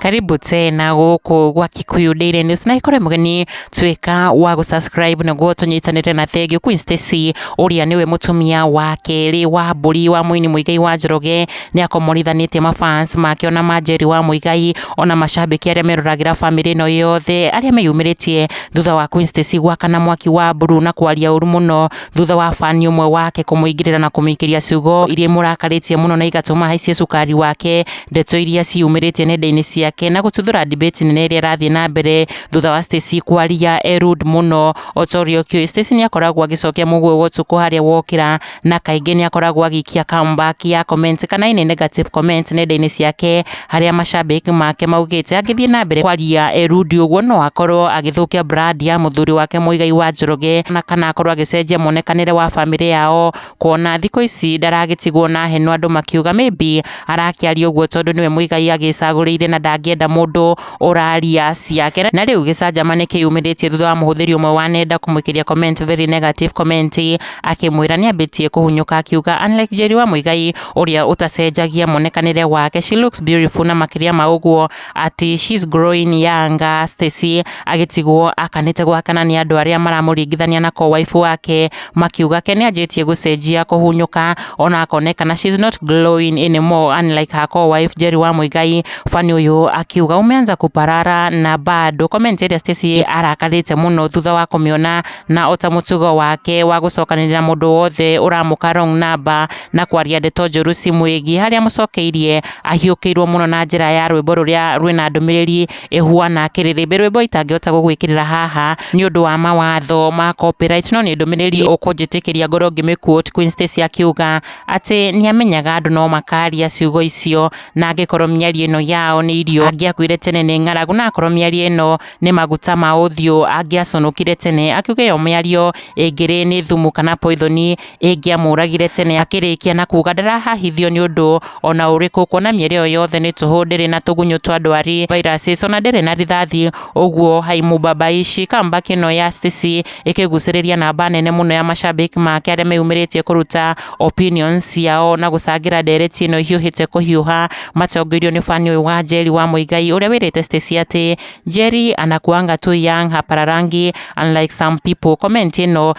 Karibu tena gũkũ gwa Kikuyu Daily News na ikore mũgeni tuĩka wa gũ subscribe nĩguo tũnyitanĩre na Thenge Queen Stacy ũrĩa nĩwe mũtumia wa kerĩ wa mbũri wa mũini Mũigai wa Njoroge nĩ akomorithanĩtie mafans make ona ma Njeri wa Mũigai ona macambĩki arĩa meroragĩra famĩlĩ ĩno yothe arĩa meyumĩrĩtie thutha wa Queen Stacy gwakana mwaki wa mburu na kwaria ũru mũno thutha wa fani ũmwe wake kũmũingĩrĩra na kũmĩikĩria ciugo iria imũrakarĩtie mũno na igatũma haicie cukari wake ndeto iria ciumĩrĩtie nenda-inĩ ciake na gũtuthũra debate nene ĩrĩa ĩrathiĩ na mbere thutha wa Stacy kwaria e rude mũno o ta ũrĩa ũkĩũĩ Stacy nĩ akoragwo agĩcokia mũguĩ wa ũtukũ harĩa wokĩra na kaingĩ nĩ akoragwo agĩikia comeback ya comments kana any negative comments nenda-inĩ ciake harĩa macambĩki make maugĩte angĩthiĩ na mbere kwaria erundi ũguo no akorwo agĩthũkia brand ya mũthuri wake Muigai wa Njoroge na kana akorwo agĩcenjia muonekanĩre wa famĩlĩ yao kuona thikũ ici ndaragĩtigwo na heno andũ makiuga maybe arakĩaria ũguo tondũ nĩwe Muigai agĩcagũrĩire na ndangĩenda mũndũ ũraria ciake na rĩu gĩcanjamane kĩyumĩrĩtie thutha wa mũhũthĩri ũmwe wa nenda kũmũikĩria comment very negative comment akĩmwĩra nĩambĩtie kũhunyũka akiuga unlike Njeri wa Muigai ũrĩa ũtacenjagia muonekanĩre wake she looks beautiful na makĩria ma ũguo ati she's growing younger Stacy agĩtigwo akanĩte gwakana nĩ andũ arĩa maramũringithania na ko waifu wake makiuga ke nĩanjĩtie gũcenjia kũhunyũka ona akonekana she's not glowing anymore unlike her co-wife Jerry wa Muigai fani ũyũ akiuga umeanza kuparara na bado comment ĩrĩa Stacy arakarĩte mũno thutha wa kũmĩona na ota mũtugo wake wa gũcokanĩrĩra mũndũ wothe ũramũka wrong number na kwaria ndeto njũru cimwĩgiĩ harĩa amũcokeirie ahiũkĩirwo mũno na njĩra ya rwĩmbo rũrĩa rwĩna ndũmĩrĩri Ihua na Kĩrĩrĩmbĩ, rwĩmbo itangĩhota gũgwĩkĩrĩra haha nĩ ũndũ wa mawatho ma copyright, no nĩ ndũmĩrĩri ũkũnjĩtĩkĩria ngorwo ngĩmĩ quote Queen Stacy akiuga atĩ nĩ amenyaga andũ no makaria ciugo icio, na angĩkorwo mĩario ĩno yao nĩ irio, angĩakuire tene nĩ ng'aragu, na akorwo mĩario ĩno nĩ maguta ma ũthiũ, angĩaconokire tene, akiuga ĩyo mĩario ĩngĩrĩ nĩ thumu kana poithoni, ĩngĩamũragire tene akĩrĩkia na kuga ndarahahithio nĩ ũndũ ona ũrĩkũ kuona mĩerĩ ĩyo yothe nĩ tũhũ ndĩrĩ na tũgunyũ twa ndwari viruses ona ndĩrĩ na rithathi ũguo haimubabaishi comeback ĩno ya Stacy ĩkĩgucĩrĩria namba nene mũno ya mashabiki make arĩa meyumĩrĩtie kũruta opinions ciao na gũcangĩra ndereti ĩno ĩhiũhĩte kũhiũha matongoirio nĩ fani ũyũ wa Njeri wa Mũigai ũrĩa wĩrĩte Stacy atĩ Njeri anakuanga tu young hapararangi unlike some people comment ĩno